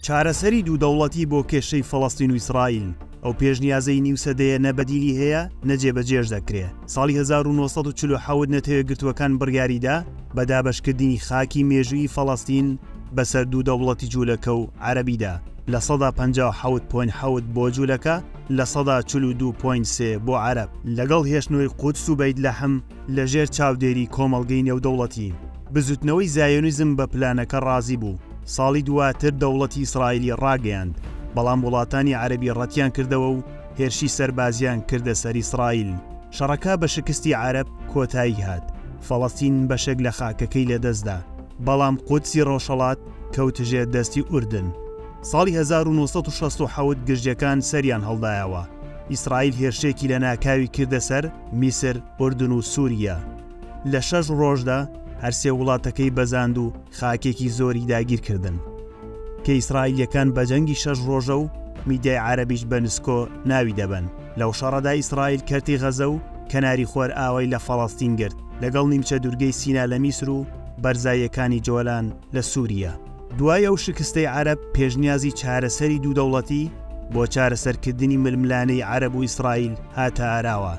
چارەسەری دوو دەوڵەتی بۆ کێشەی فەڵەستین و ئیسرائیل، ئەو پێشنیازەی نیو سەدەیە نە بەدیلی هەیە نە جێبەجێش دەکرێ. ساڵی هەزار و نۆ سەد و چل و حەوت نەتەوەیەکگرتووەکان بڕیاریدا بە دابەشکردنی خاکی مێژوویی فەڵەستین بەسەر دوو دەوڵەتی جوولەکە و عەرەبیدا لە سەدا پەنجا و حەوت پۆینت حەوت بۆ جوولەکە لە سەدا چل و دوو پۆینت سێ بۆ عەرەب لەگەڵ هێشتنەوەی قودس و بەیت لەحم. لە ژێر چاودێری کۆمەڵگەی نێودەوڵەتی، بزوتنەوەی زایۆنیزم بە پلانەکە ڕازی بوو، ساڵی دواتر دەوڵەتی ئیسرائیلی ڕاگەیاند، بەڵام وڵاتانی عەرەبی ڕەتیان کردەوە و هێرشی سەربازیان کردە سەر ئیسرائیل، شەڕەکە بە شکستی عەرەب کۆتایی هات، فەڵەستین بەشێک لە خاکەکەی لە دەست دا، بەڵام قودسی ڕۆژهەڵات کەوت ژێر دەستی ئوردن. ساڵی هەزار و نۆ سەد و شەست و حەوت گرژیەکان سەریان هەڵدایەوە، ئیسرائیل هێرشێکی لە ناکاوی کردە سەر، میسر، ئوردن و سووریە. لە شەش ڕۆژدا هەرسێ وڵاتەکەی بەزاند و خاکێکی زۆری داگیر کردن. کە ئیسرائیلیەکان بە جەنگی شەش ڕۆژە و میدیای عەرەبیش بە نسکۆ ناوی دەبەن. لەو شەڕەدا ئیسرائیل کەرتی غەزە و کەناری خۆرئاوای لە فەڵەستین گرت لەگەڵ نیمچە دوورگەی سینا لە میسر و بەرزاییەکانی جۆلان لە سووریە. دوای ئەو شکستەی عەرەب پێشنیازی چارەسەری دوو دەوڵەتی بۆ چارەسەرکردنی ململانێی عەرەب و ئیسرائیل هاتە ئاراوە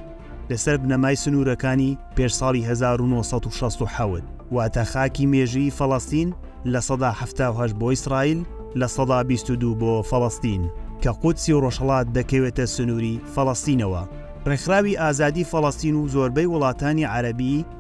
لەسەر بنەمای سنوورەکانی پێش ساڵی هەزار و نۆ سەد و شەست و حەوت واتە خاکی مێژوویی فەڵەستین لە سەدا حەفتا و هەشت بۆ ئیسرائیل لە سەدا بیست و دوو بۆ فەڵەستین کە قودسی ڕۆژهەڵات دەکەوێتە سنووری فەڵەستینەوە. ڕێکخراوی ئازادی فەڵەستین و زۆربەی وڵاتانی عەرەبی،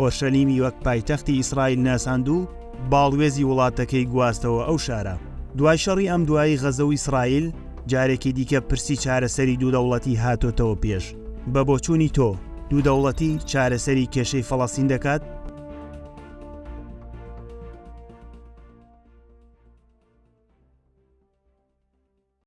ئۆرشەلیمی وەک پایتەختی ئیسرائیل ناساند و باڵوێزی وڵاتەکەی گواستەوە ئەو شارە. دوای شەڕی ئەمدوایی غەزە و ئیسرائیل، جارێکی دیکە پرسی چارەسەری دوو دەوڵەتی هاتۆتەوە پێش. بە بۆچوونی تۆ، دوو دەوڵەتی چارەسەری کێشەی فەڵەستین دەکات؟